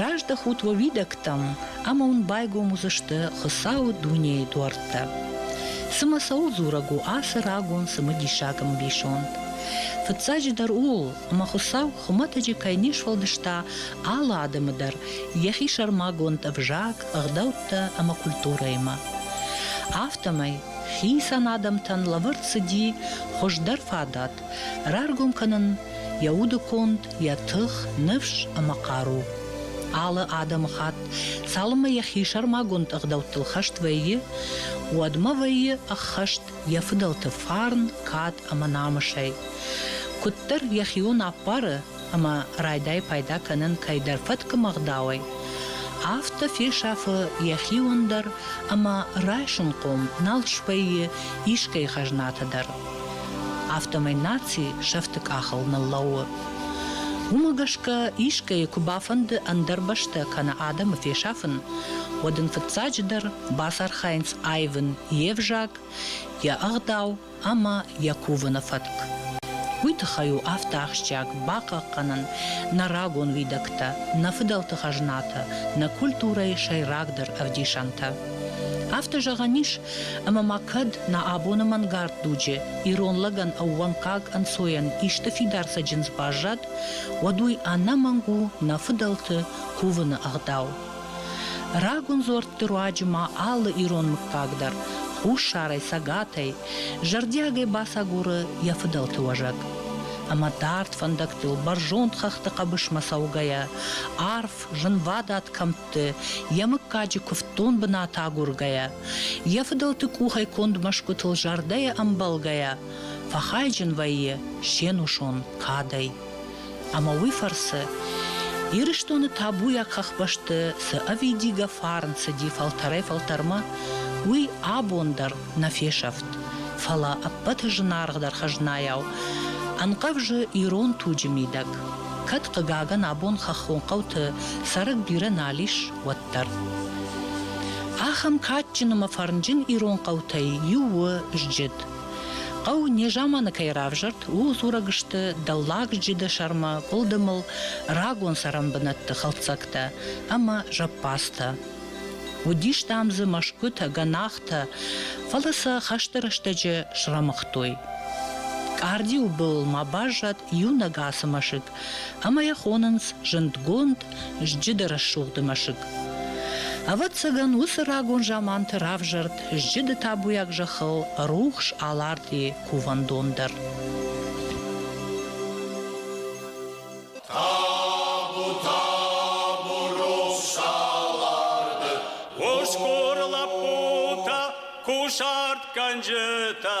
Раздӕхут уӕ уидӕгтӕм, ӕмӕ уын байгом уыдзысты Хуыцауы дунейы дуӕрттӕ. Цымӕ цӕуыл дзурӕг у ацы рагон цымыдисаг ӕмбисонд? Фыццаджыдӕр ууыл, ӕмӕ Хуыцау хуымӕтӕджы кӕй не сфӕлдыста алы адӕмы дӕр йӕхи сӕрмагонд ӕвзаг, ӕгъдӕуттӕ ӕмӕ культурӕимӕ. Афтӕмӕй Хицӕн адӕмтӕн лӕвӕрд цыди хуыздӕр фадат раргом кӕнын йӕ удыконд, йӕ тых, ныфс ӕмӕ хъару. Алы адӕмыхатт, цалынмӕ йӕхи сӕрмагонд ӕгъдӕуттыл хӕст вӕййы, уӕдмӕ вӕййы ӕххӕст йӕ фыдӕлты фарн, кад ӕмӕ намысӕй. Куыддӕр йӕхион ӕппары, ӕмӕ райдайы пайда кӕнын кӕйдӕр фӕткы мгъдауӕй, афтӕ фесӕфы йӕхиуон дӕр ӕмӕ райсынхъом нал свӕййы искӕй хӕзнатӕ дӕр. Афтӕмӕй наци сӕфты къахыл ныллӕууы. Уымӕ гӕсгӕ искӕйы куы бафӕнды ӕндӕр бӕстӕ кӕнӕ адӕмы фесафын, уӕд ын фыццаджыдӕр бацархайынц аивын йе взаг, йӕ ӕгъдау ӕмӕ йӕ кувыны фӕтк. Уый тыххӕй у афтӕ ахсджиаг бахъахъхъӕнын нӕ рагон уидӕгтӕ, нӕ фыдӕлты хӕзнатӕ, нӕ культурӕйы сӕйрагдӕр ӕвдисӕнтӕ. Афтӕ зӕгъӕн ис, ӕмӕ ма кӕд нӕ абоны мӕнгард дуджы ирон лӕгӕн ӕууӕнкаг ӕнцойӕн исты фидар цӕджындз баззад, уӕд уый ӕнӕмӕнг у нӕ фыдӕлты кувыны ӕгъдау. Рагон дзуӕртты руаджы ма алы ирон мыггаг дӕр хуссарӕй, цӕгатӕй, зӕрдиагӕй бацагуры йӕ фыдӕлты уӕзӕг. Ӕмӕ дард фӕндӕгтыл бӕрзонд хӕхты хъӕбысмӕ цӕугӕйӕ, арф, зынвадат кӕмтты йӕ мыггаджы куывддон бынат агургӕйӕ, йӕ фыдӕлты къухӕй конд мӕсгуытыл зӕрдӕйӕ ӕмбӕлгӕйӕ, фӕхайджын вӕййы се нусон кадӕй. ӕмӕ уый фӕрцы Ирыстоны табуйаг хӕхбӕсты цы ӕвидигӕ фарн цыди фӕлтӕрӕй-фӕлтӕрмӕ, уый абон дӕр нӕ фесӕфт, фӕлӕ ӕппӕты зынаргъдӕр хӕзнайау ӕнхъӕвзы ирон туджы мидӕг, кӕд, хъыгагӕн, абон хӕххон хъӕуты цӕрӕг бирӕ нал ис, уӕддӕр. Ахӕм кадджын ӕмӕ фӕрнджын ирон хъӕутӕй иу у Зджыд. Хъӕу незаманы кӕй равзӕрд, ууыл дзурӕг сты Дӕллаг Джидӕсӕрмӕ къуылдымыл рагон цӕрӕн бынӕтты хӕлддзӕгтӕ ӕмӕ зӕппадзтӕ. Уыдис дам дзы мӕсгуытӕ, гӕнахтӕ, фӕлӕ сӕ хӕсты рӕстӕджы срӕмыгътой. Къардиуы былыл ма баззад иунӕг ацы мӕсыг, ӕмӕ йӕ хонынц зындгонд Зджыды рӕсугъды мӕсыг. Ӕвӕццӕгӕн, уыцы рагон заманты равзӕрд зджыды табуйаг зӕххыл рухс Алардийы кувӕндон дӕр. Ускор лапута, кушарт кӕнджытӕ,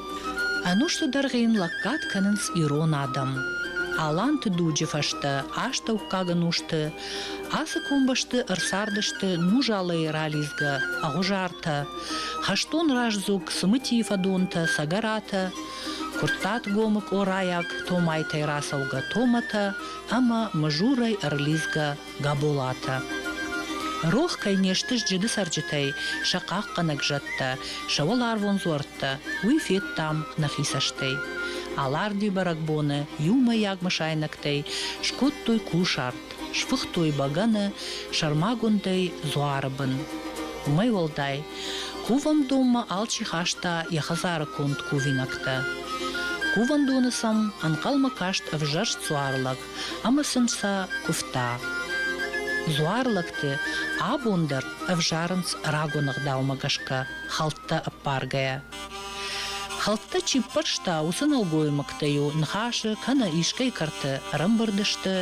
Ӕнусты дӕргъы йын лӕггад кӕнынц ирон адӕм. Аланты дуджы фӕстӕ астӕуккаг ӕнусты ацы комбӕсты ӕрцардысты нузалӕй ралидзгӕ Ӕгъуызартӕ, хӕстон раздзог Цымытийы фӕдонтӕ Цӕгӕратӕ, Куырттатгомы къорайаг Томайтӕй рацӕугӕ Томатӕ ӕмӕ Мызурӕй ӕрлидзгӕ Габолатӕ. Рох кӕй не сты сджыды цӕрджытӕй сӕ хъахъхъӕнӕг зӕдтӕ, сӕ уӕларвон дзуӕрттӕ, уый федтам нӕхи цӕстӕй. Аларди бӕрӕгбоны иумӕйаг мысайнӕгтӕй скодтой кусарт, сфыхтой бӕгӕны, сӕрмагондӕй дзуары бын. Уымӕй уӕлдай, кувӕндонмӕ алчи хаста йӕ хӕдзары конд кувинӕгтӕ. Кувӕндоны сӕм ӕнхъӕлмӕ каст ӕвзӕрст дзуар лӕг, ӕмӕ сын сӕ куывта. Дзуарлӕгты абон дӕр ӕвзарынц рагон ӕгъдаумӕ гӕсгӕ хӕлттӕ ӕппаргӕйӕ. Хӕлттӕ чи ппӕрста, уыцы нӕлгоймӕгтӕ-иу ныхасы кӕнӕ искӕй кӕрты ӕрӕмбырд сты,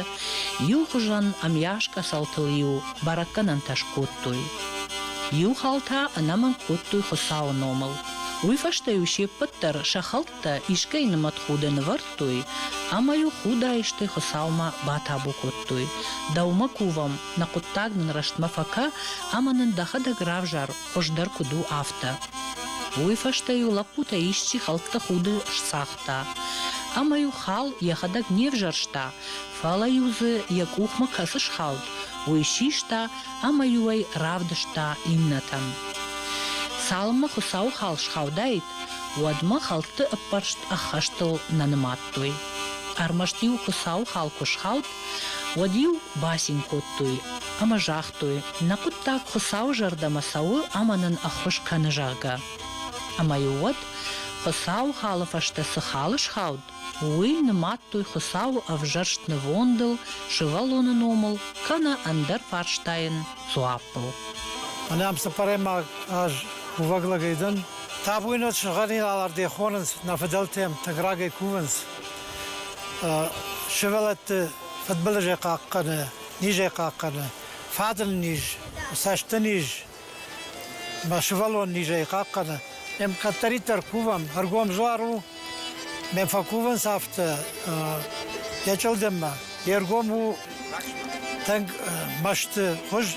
иу хуызӕн ӕмйас къӕцӕлтыл-иу бӕрӕггӕнӕнтӕ скодтой. Иу хал та ӕнӕмӕнг кодтой Хуыцауы номыл. Уый фӕстӕ-иу се ппӕт дӕр сӕ хӕлт Та искӕй нымӕтхудӕ нывӕрдтой ӕмӕ-иу худаистӕй Хуыцаумӕ батабу кодтой, Дӕумӕ кувӕм, нӕ хъуыддаг нын рӕстмӕ фӕкӕ ӕмӕ нын дӕхӕдӕг равзар, хуыздӕр куыд у, афтӕ. Уый фӕстӕ-иу лӕппутӕ исчи хӕлтты худы сцагъта ӕмӕ-иу хал йӕхӕдӕг не взӕрста, фӕлӕ-иу дзы йӕ къухмӕ кӕцы схауд, уый систа ӕмӕ-иу ӕй равдыста иннӕтӕн. Цалынмӕ Хуыцауы хал схаудаид, Уӕдмӕ хӕлтты ӕппӕрст ӕххӕстыл нӕ нымадтой. Ӕрмӕст-иу Хуыцауы хал куы схауд, уӕд-иу бацин кодтой ӕмӕ загътой, нӕ хъуыддаг Хуыцауы зӕрдӕмӕ цӕуы ӕмӕ нын ӕххуыс кӕны, зӕгъгӕ. Ӕмӕ-иу уӕд, Хуыцауы халы фӕстӕ цы хал схауд, Уый нымадтой Хуыцауы ӕвзӕрст нывондыл, сывӕллоны номыл, кӕнӕ ӕндӕр фарстайӕн дзуаппыл. Ӕнӕм цыппӕрӕймаг аз кувӕг лӕгӕй дӕн. Табуйнаг сыгъдӕгӕн алард йӕ хонынц, нӕ фыдӕлтӕм тынг рагӕй кувынц. Сывӕллӕтты фыдбылызӕй хъахъхъӕны, низӕй хъахъхъӕны, фадын низ, цӕсты низ, Мӕ сывӕллон низӕй хъахъхъӕны. Ем кӕддӕриддӕр кувӕм, ӕргом дзуар у, ме фӕкувынц афтӕ йӕ чъылдыммӕ. Йе ргом у тынг мӕсты хуыз,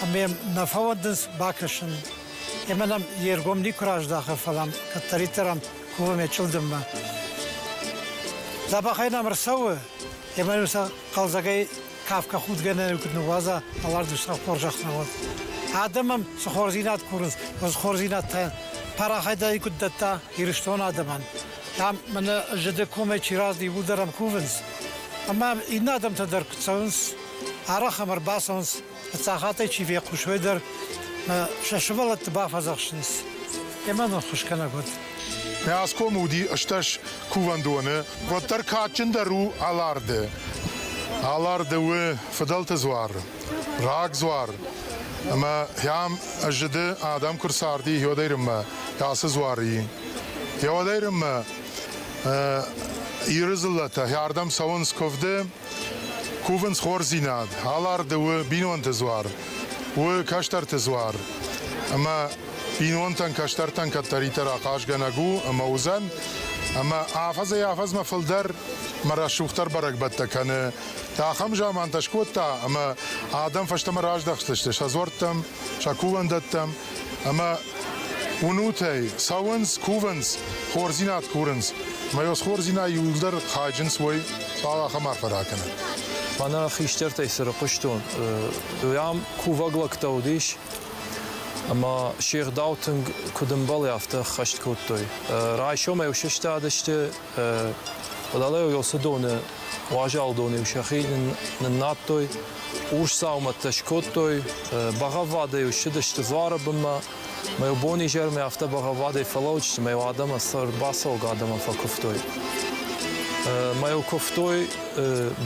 ӕмӕ йӕм нӕ фӕуӕндынц бакӕсын. Ӕмӕ нӕм йе ргом никуы раздахы, фӕлӕ ам кӕддӕриддӕр ам кувӕм йӕ чъылдыммӕ. Дзӕбӕхӕй нӕм ӕрцӕуы, ӕмӕ йын сӕ хъӕлдзӕгӕй Кафгӕ худгӕнӕн куыд ныууадза, алардуй сӕ хорзӕхтӕн уӕд. Адӕмӕн цы хорздзинад курынц, уыцы хорздзинад та парахайдӕй куыд дӕтта Ирыстон адӕмӕн. Там мӕнӕ зыды комӕй чи разы иууылдӕр ӕм кувынц. Ӕмӕ иннӕ адӕмтӕ дӕр куы цӕуынц, арӕх ӕм ӕрбацӕуынц, фыццахатӕй чи фехъусой дӕр, сӕ сывӕллӕтты бафӕдзӕхсынц. Кӕмӕн ӕххуысгӕнӕг уыд. Хӕсгом уыди стӕс кувӕндоны, уӕддӕр кадджындӕр у Аларды. Аларды у фыдӕлты дзуар, рагдзуар, ӕмӕ йӕм зыды адӕм куы рцарди Иодӕйрынмӕ ацы дзуарыйы. Иодӕйрынмӕ Иры дзыллӕтӕ ардӕм цӕуынц куывды, кувынц хорздзинад. Аларды у бинонты дзуар, у кӕстӕрты дзуар, ӕмӕ Финонтӕн, кӕстӕртӕн кӕддӕриддӕр ахъазгӕнӕг у ӕмӕ уыдзӕн. Ӕмӕ афӕдзӕй-афӕдзмӕ фылдӕр мӕ рӕсугъддӕр бӕрӕгбӕттӕ кӕны. Ахӕм замантӕ скодта, ӕмӕ адӕм фӕстӕмӕ раздӕхтысты сӕ дзуӕрттӕм, сӕ кувӕндӕттӕм ӕмӕ уынутӕй цӕуынц, кувынц, хорздзинад курынц. Мӕ ёсхордзинад иууылдӕр хайджынц уой, фал ахӕм арфӕ ракӕнӕн. Мӕнӕ хистӕртӕй цы рыхъуыстон, уӕм кувӕг лӕгтӕ уыдис, Ӕмӕ се гъдау тынг куыд ӕмбӕлы, афтӕ ӕххӕст кодтой. Райсомӕй сыстадысты, уӕлӕ Йосыдоны уазалдон-иу сӕхи ныннадтой, урсдзаумӕттӕ скодтой, бӕгъӕввадӕй-иу ссыдысты дзуары бынмӕ, мӕ-иу бон-изӕрмӕ афтӕ бӕгъӕввадӕй фӕлӕуыдысты, мӕ-иу адӕмы сӕр бацӕугӕ адӕмӕн фӕкуывтой. Мӕ-иу куывтой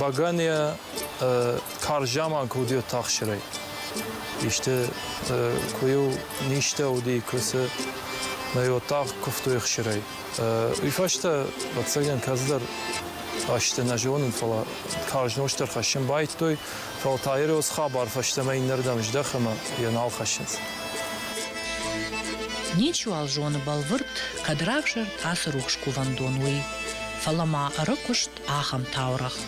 бӕгӕныйӕ Карз заман куы уыди Оттахсырӕй. Исты куы-иу низтӕ уыди, куы цы нӕ оттах куывтой хсырӕй. Уый фӕстӕ, ӕцӕгӕн, кӕцыдӕр азты нӕ зонын, фӕлӕ карз нозт дӕр хӕссын байдтой, фӕлӕ та йӕ рӕуц хабар фӕстӕмӕ иннӕрдӕм здӕхы ӕмӕ йӕ нал хӕссынц. Ничуал зоны бӕлвырд, кӕд равзӕрд ацы рухс кувӕндон, уый, фӕлӕ ма ӕрыкуыст ахӕм таурӕгъ.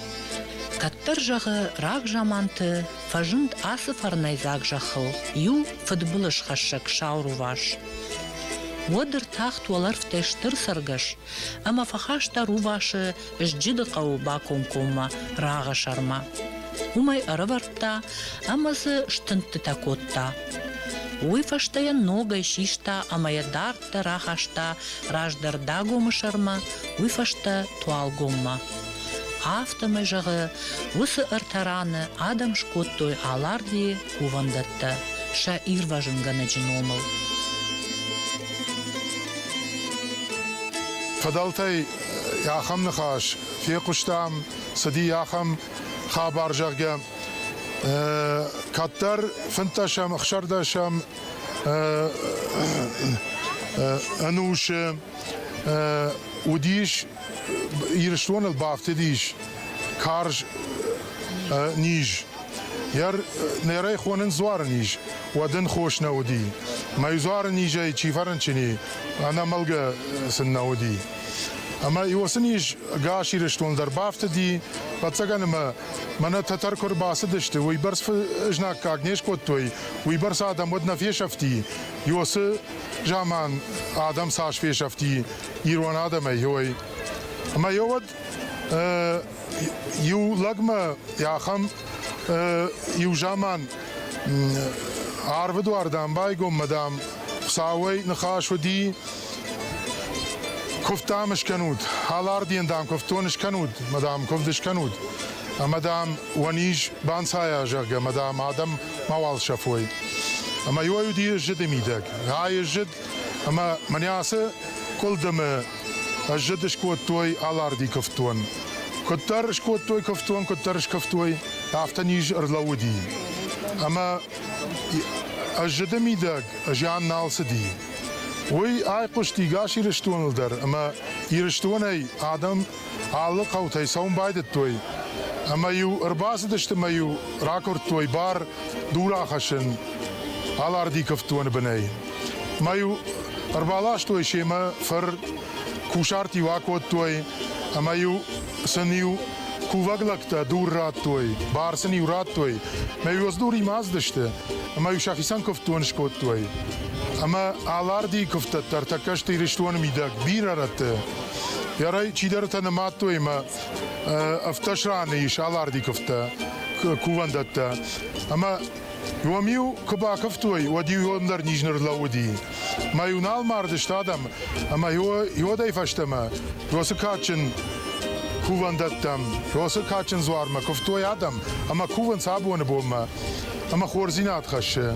Кӕддӕр зӕгъы, рагзаманты фӕзынд ацы фӕрнӕйдзаг зӕххыл иу фыдбылызхӕссӕг сау рувас. Уӕд ӕртахт уӕлӕрвтӕй стыр цӕргӕс ӕмӕ фӕхаста рувасы Зджыды хъӕуы бакомкоммӕ рагъысӕрмӕ. Уымӕй ӕрӕвӕрдта ӕмӕ дзы стындтытӕ кодта. Уый фӕстӕ йӕ ногӕй систа ӕмӕ йӕ дард рахаста раздӕр Дагомы сӕрмӕ, уый фӕстӕ Туалгоммӕ. Афтӕмӕй, зӕгъы, уыцы ӕртӕ раны адӕм скодтой Алардийы кувӕндӕттӕ сӕ ирвӕзынгӕнӕджы номыл. Фыдӕлтӕй ахӕм ныхас фехъуыстам, цыди ахӕм хабар, зӕгъгӕ, кӕддӕр фынддӕсӕм, ӕхсӕрдӕсӕм ӕнусы уыдис Ирыстоныл бафтыдис карз низ. Нӕрӕй хонын дзуары низ, уӕд ын хос нӕ уыди. Мӕй дзуары низӕй чи фӕрынчыни, ӕнӕмӕлгӕ сын нӕ уыди. Ӕмӕ уыцы низ ӕгас Ирыстон дӕр бафтыди, ӕвӕццӕгӕн ӕмӕ мӕнӕ тӕтӕр куы ӕрбацыдысты, уыйбӕрц знаггаг не скодтой, уыйбӕрц адӕм уӕд нӕ фесӕфти. Иосы заман адӕм цас фесӕфти ирон адӕмӕй, ой. Ӕмӕ йӕ уӕд иу лӕгмӕ ахӕм иу заман арвы дуардӕн байгоммӕ, дам, Хуыцауӕй ныхас уыди, куывд, дам, скӕнут, хӕларден, дам, куывдтон скӕнут, мадам, куывд скӕнут. Ӕмӕ, дам, уӕ низ банцайа, зӕгъгӕ, мадам, адӕм мауал сӕфой. Ӕмӕ иуӕй уыди ӕззыды мидӕг. Гъа, ӕззыд, ӕмӕ мӕнӕ ацы къуылдымы ӕззыд скодтой Аларди куывддон. Куыддӕр скодтой куывддон, куыддӕр скуывтой, афтӕ низ ӕрлӕууыди. Ӕмӕ ӕззыды мидӕг зиан нал цыди. Уый айхъуысти гас Ирыстоныл дӕр, ӕмӕ Ирыстонӕй адӕм Алы хъӕутӕй цӕуын байдыдтой ӕмӕ-иу ӕрбацыдысты ӕмӕ-иу ракуырдтой бар дур ахӕссын Алардиковтоны бынӕй. Мӕ-иу ӕрбаластой семӕ фыр кусарт-иу акодтой ӕмӕ-иу сын-иу кувӕг лӕгтӕ дур радтой, бар сын-иу радтой. Мӕ-иу ӕздуримӕ ацыдысты ӕмӕ-иу сӕхицӕн куывддон скодтой. Ӕмӕ Алардийы куывдтӕ дӕр тӕккӕ сты Ирыстоны мидӕг бирӕ рӕтты. Ярӕй чидӕртӕ нымадтой мӕ ӕвддӕс раны ис аларди куывдтӕ, кувӕндӕттӕ. Ӕмӕ уӕм-иу куы бакуывтой, уӕд-иу уӕм дӕр низ ныр лӕууыди. Мӕ-иу нал мардысты адӕм, ӕмӕ иуӕдӕй фӕстӕмӕ уыцы кадджын кувӕндӕттӕм, уыцы кадджын дзуармӕ куывтой адӕм ӕмӕ кувынц абоны бонмӕ ӕмӕ хорздзинад хӕссы.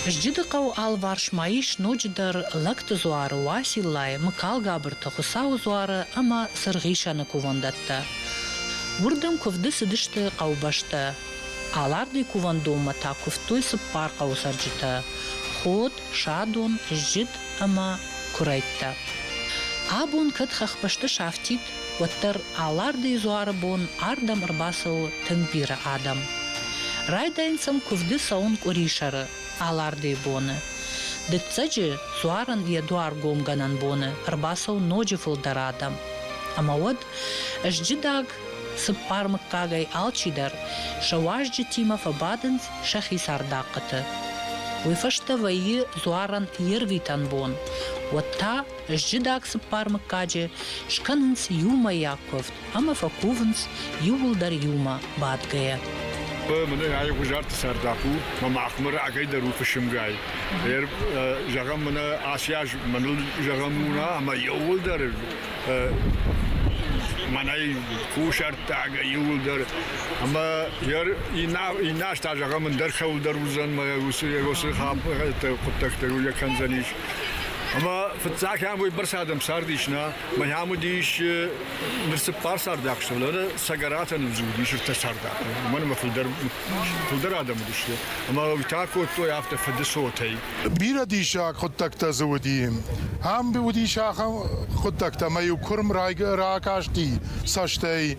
Сджыды хъӕуы алыварс ма ис ноджыдӕр лӕгты дзуары Уациллайы, Мыкалгабырты, Хуыцауы дзуары ӕмӕ Сырхисӕны кувӕндӕттӕ. Уырдӕм куывды цыдысты хъӕубӕстӕ. Алардыйы кувӕндонмӕ та куывтой цыппар хъӕуы цӕрджытӕ – ход, садон, сджыт ӕмӕ куырӕйттӕ. Абон кӕд хӕхбӕсты сафтид, уӕддӕр Алардыйы дзуары бон ардӕм ӕрбацӕуы тынг бирӕ адӕм. Райдайын сӕм куывды цӕуын къуырисӕры, Алардыйы боны. Дыццӕджы дзуарӕн йӕ дуаргомгӕнӕн боны ӕрбацӕуы ноджы фылдӕр адӕм. Ӕмӕ уӕд ызджыдаг, цыппар мыггагӕй алчидӕр сӕ уазджытимӕ фӕбадынц сӕхи цардахъхъыты. Уый фӕстӕ вӕййы дзуарӕн йе рвитӕн бон, уӕд та Сджыдаг цыппар мыггаджы скӕнынц иумӕйаг куывд ӕмӕ фӕкувынц иууылдӕр иумӕ бадгӕйӕ. Мын айгъуызарты сӕрдах у, мӕ махмӕ рагӕй дӕр у фысымгай. Зӕгъӕм, мына аси аз мӕныл зӕгъӕн уна, ӕмӕ иууылдӕр мӕнӕй кусӕрттаг иууылдӕр. Ӕмӕ иннӕ аз та зӕгъӕм, ӕндӕр кӕуылдӕр уыдзӕн мӕ уыцы уыцы хъуыддӕгтӕ йӕ кӕндзӕнис. Ӕма фиццагӕн уойбӕрцӕ адӕмцард ис нӕ. Мӕнӕ уыдис ныр цыппар цардӕхъ сывӕллӕны сӕ гӕрӕтӕн ӕвзурдис ӕртӕ цардӕхъ. Уымӕн ӕмӕ фылдӕр фылдӕр адӕм уыдысты. Ӕмӕ уый та кодтой афтӕ фыды цотӕй. Бирӕ диссаг хъуыддӕгтӕ дзы уыди. Ам уыдис ахӕм хъуыддӕгтӕ, ӕмӕ-иу куырм ракасти цӕстӕй,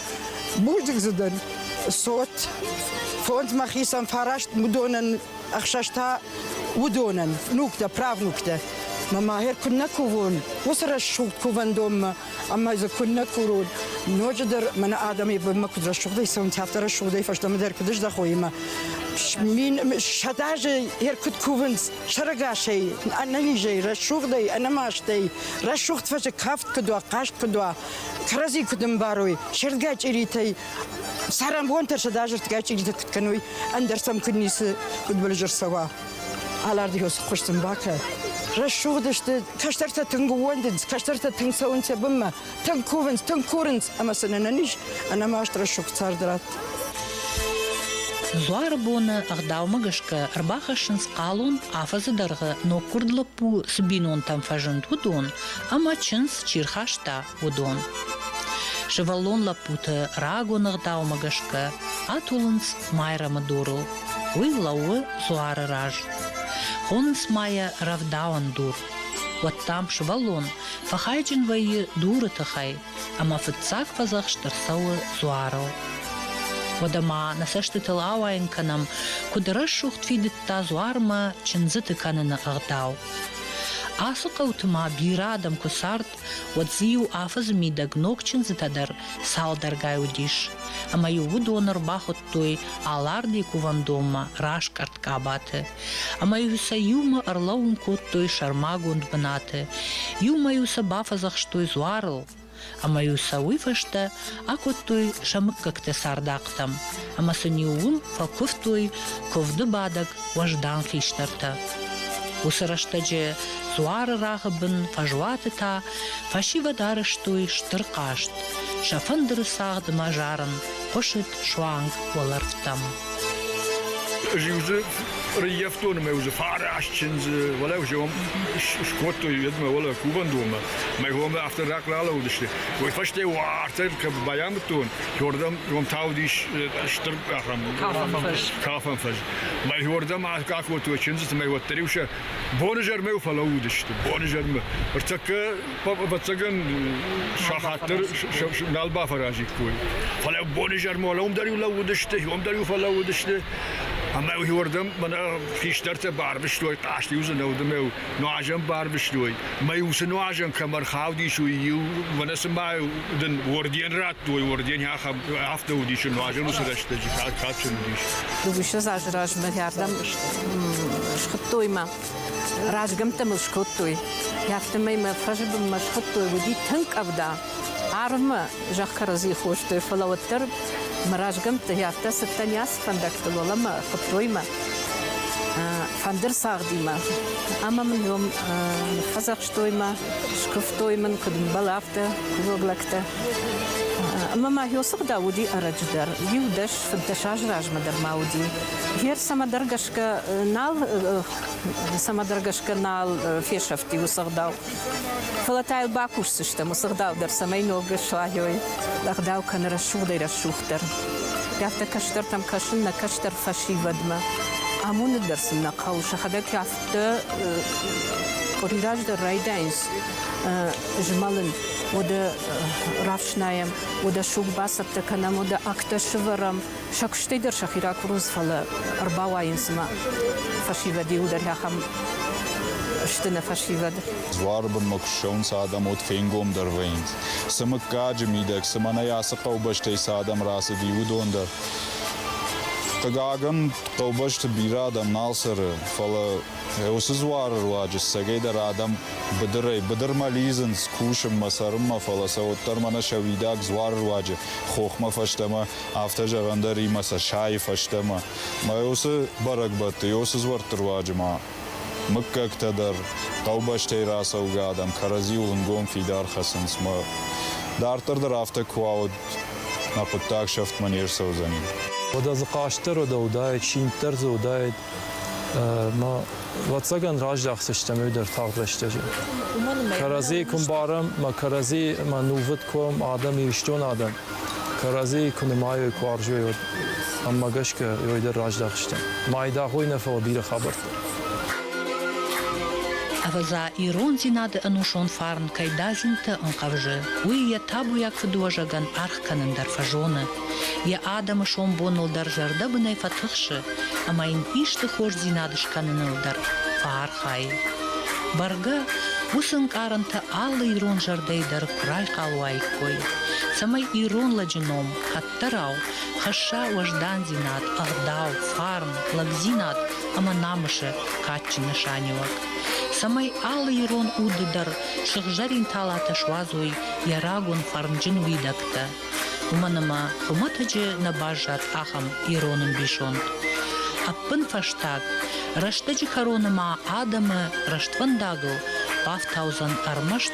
Будик дзы дӕр цот, фондзмӕ хицӕн фараст уыдонӕн ӕхсӕзтӕ уыдонӕн, нуктӕ, правнуктӕ. Мӕ мӕгьер куыннӕ кувон уыцы рӕсугъд кувӕндонмӕ, ӕмӕ дзы куыннӕ курон. Ноджы дӕр мӕнӕ адӕмӕй бынмӕ куыд рӕсугъдӕй цӕуынц, афтӕ рӕсугъдӕй фӕстӕмӕ дӕр куыд ӕздӕхой ӕмӕ мин сӕдӕ азы йӕ куыд кувынц сӕрӕгасӕй, ӕнӕнизӕй, рӕсугъдӕй, ӕнӕмастӕй, рӕсугъд фӕзы кафт куыд уа, хъазт куыд уа, кӕрӕдзи куд ӕмбарой, сӕрдгӕ чъиритӕй, царӕнбонтӕ сӕдазӕртгӕ чъиритӕ куд кӕной, ӕндӕр сӕм куд ницы удбӕлизӕр цӕуа. Алардигос хуысын бакӕ. Рӕсугъд сты, кӕстӕртӕ тынг ууӕндынц, кӕстӕртӕ тынг цӕуынц сӕ бынмӕ, тынг кувынц, тынг курынц, ӕмӕ сын ӕнӕн ис ӕнӕмаст рӕсугъд цард ратт. Дзуары боны ӕгъдаумӕ гӕсгӕ ӕрбахӕссынц хъалон, афӕдзы дӕргъы ноггуырд лӕппу цы бинонтӕм фӕзынд, уыдон. ӕмӕ чындз чи рхаста, уыдон. Сывӕллон лӕппуты рагон ӕгъдаумӕ гӕсгӕ атулынц Майрӕмы дурыл. Уый лӕууы дзуары раз. Хонынц ма йӕ рӕвдауӕн дур. Уӕд дам сывӕллон фӕхайджын вӕййы дуры тыхӕй, ӕмӕ фыццаг фӕдзӕхст ӕрцӕуы дзуарыл. Уӕдӕ ма нӕ цӕстытыл ауайын кӕнӕм, куыд рӕсугъд фидыдта дзуармӕ чындзыты кӕныны ӕгъдау. Ацы хъӕуты ма бирӕ адӕм куы цард, уӕд дзы-иу афӕдзы мидӕг ног чындзытӕ дӕр цалдӕргай уыдис, ӕмӕ-иу уыдон ӕрбахуыдтой Аларды кувӕндонмӕ раскъӕрд къабаты, ӕмӕ-иу сӕ иумӕ ӕрлӕууын кодтой сӕрмагонд бынаты, иумӕ-иу сӕ бафӕдзӕхстой дзуарыл, ӕмӕ-иу сӕ уый фӕстӕ акодтой сӕ мыггӕгтӕ цардахътӕм ӕмӕ сын-иу уым фӕкуывтой куывды бадӕг уӕздан хистӕртӕ. Уыцы рӕстӕджы дзуары рагъы бын фӕзуаты та фӕсивӕд арӕзтой стыр хъазт, сӕ фӕндыры цагъд ӕмӕ зарын хъуысыд суанг уӕлӕрвтӕм. Зиузе реййӕфтон ӕмӕ узе фараст чындзы, уӕлӕ узе скодтой едмӕ, уӕлӕ кувӕндонмӕ. Мӕ гомӕ афтӕ рахъ ралаудысты. Уый фӕстӕ уартӕ кӕм байамыдтон, уордӕм уым таудис стыр ахӕм кафӕн фӕз. Мӕ уордӕм акодтой чындзытӕ, мӕ уӕддӕр-иу сӕ бонизӕрмӕ фӕлӕууыдысты. Бонизӕрмӕ. Ӕртӕккӕ ӕвӕццӕгӕн сахат дӕр нал бафӕразиккой. Фӕлӕ бонизӕрмӕ уӕлӕ уым дӕр-иу лӕууыдысты, уым дӕр-иу фӕлӕууыдысты, ӕмӕ уырдӕм мӕнӕ хистӕртӕ барвыстой хъазты иу дзы нӕ уыд ӕмӕ нуазӕн барвыстой. Мӕ иу цы нуазӕн кӕм ӕрхаудис, уый иу мӕнӕ цыма дын орден радтой, орден ахӕм афтӕ уыдис, нуазӕн уыцы рӕстӕджы кад кадджын уыдис. Уыцы азы размӕ рӕрдӕм схуыдтой мӕ. Разгӕмттӕ мыл скодтой. Афтӕмӕй мӕ фӕзы бынмӕ схуыдтой, уыди тынг къӕвда. Арвмӕ зӕхх кӕрӕдзи хостой, фӕлӕ уӕддӕр мӕ разгӕмттӕ афтӕ цыдтӕн ацы фӕндӕгтыл, уӕлӕмӕ хуыдтой мӕ фӕндыр цагъдимӕ. Ӕмӕ мын йӕм ныффӕдзӕхстой мӕ, скуывтой мын, куыд мбӕл, афтӕ кувӕг лӕгтӕ. Ӕмӕ ма Йосыгъда уыди ӕрӕджыдӕр, иу дӕс фыддӕс азы размӕ дӕр ма уыди. Гер цӕмӕдӕр гӕсгӕ гӕсгӕ нал, цӕмӕдӕр гӕсгӕ нал фесӕфти уыцы ӕгъдау. Фӕлӕ та йыл бакусдзыстӕм уыцы ӕгъдау дӕр, цӕмӕй ног слайой ӕгъдау кӕны рӕсугъдӕй рӕсугъддӕр. Афтӕ кӕстӕртӕм кӕсын нӕ кӕстӕр фӕсивӕдмӕ. Амоны дӕр сын нӕ хъӕуы, сӕхӕдӕг афтӕ къуыри раздӕр райдайынц змӕлын. Уӕдӕ рафснайӕм, уӕдӕ суг бацӕттӕ кӕнӕм, уӕдӕ агтӕ сывӕрӕм, сӕ куыстӕй дӕр сӕхи ракурынц, фӕлӕ ӕрбауайынц цыма фӕсивӕд иуы дӕр ахӕм сты нӕ фӕсивӕд. Дзуары бынмӕ куы ссӕуынц адӕм, уӕд фенгомдӕр вӕййынц, цы мыггаджы мидӕг, цы мӕнӕй ацы хъӕубӕстӕй цы адӕм рацыди, уыдон дӕр. Хъыгагӕн, хъӕубӕсты бирӕ адӕм нал цӕры, фӕлӕ уыцы дзуары руаджы ссӕгӕйдӕр адӕм быдырӕй-быдырмӕ лидзынц, кусынмӕ, цӕрынмӕ, фӕлӕ сӕ уӕддӕр мӕнӕ сӕ уидаг дзуары руаджы хохмӕ фӕстӕмӕ Афтӕ зӕгъӕн дӕр и мӕ Сашӕйы фӕстӕмӕ. Мӕ уыцы бӕрӕгбӕтты, йӕ уыцы дзуӕртты руаджы ма мыггӕгтӕ дӕр, хъӕубӕстӕй рацӕугӕ адӕм кӕрӕдзиуыл ӕнгом фидар хӕцынц мӕ. Дарддӕр дӕр афтӕ куы уа, уӕд мӕ хъуыддаг сӕфтмӕ не рцӕудзӕни. Уӕдӕ дзы хъастдӕр уӕдӕ уыдаид, синддӕр дзы уыдаид мӕ. Ӕвӕццӕгӕн, раззӕхдзыстӕм ӕви дӕр тагъд рӕстӕджы. Кӕрӕдзийы куы мбарӕм, мӕ кӕрӕдзи, мӕ нувыд куы, адӕм, Ирыстон адӕм. Кӕрӕдзийы куы нымайой, куы арзой, уӕд ӕмӕ гӕсгӕ уый дӕр раздӕхдзыстӕм. Майдагъ уый нӕ фӕуа бирӕ хабӕрттӕ. Ӕвӕдза, ирондзинады ӕнусон фарн кӕй дадзинты ӕнхъӕвзы, уый йӕ табуйаг фыдуӕзӕгӕн аргъ кӕнын дӕр фӕзоны. Йӕ адӕмы сомбоныл дӕр зӕрдӕбынӕй фӕтыхсы ӕмӕ йын исты хорздзинад скӕныныл дӕр фӕархайы. Бӕргӕ, уыцы ӕнкъарӕнтӕ алы ирон зӕрдӕйы дӕр куы райхъал уаиккой. цӕмӕй ирон лӕджы ном, хӕдтӕрау, хӕсса уӕздандзинад, ӕгъдау, фарн, лӕгдзинад ӕмӕ намысы кадджын нысаниуӕг, цӕмӕй алы ирон уды дӕр сыгъзӕрин талатӕ суадзой йӕ рагон фӕрнджын уидӕгтӕ. Уымӕн ӕмӕ хуымӕтӕджы нӕ баззад ахӕм ирон ӕмбисонд. Ӕппынфӕстаг, рӕстӕджы кӕроны ма адӕмы рӕствӕндагыл бафтаудзӕн ӕрмӕст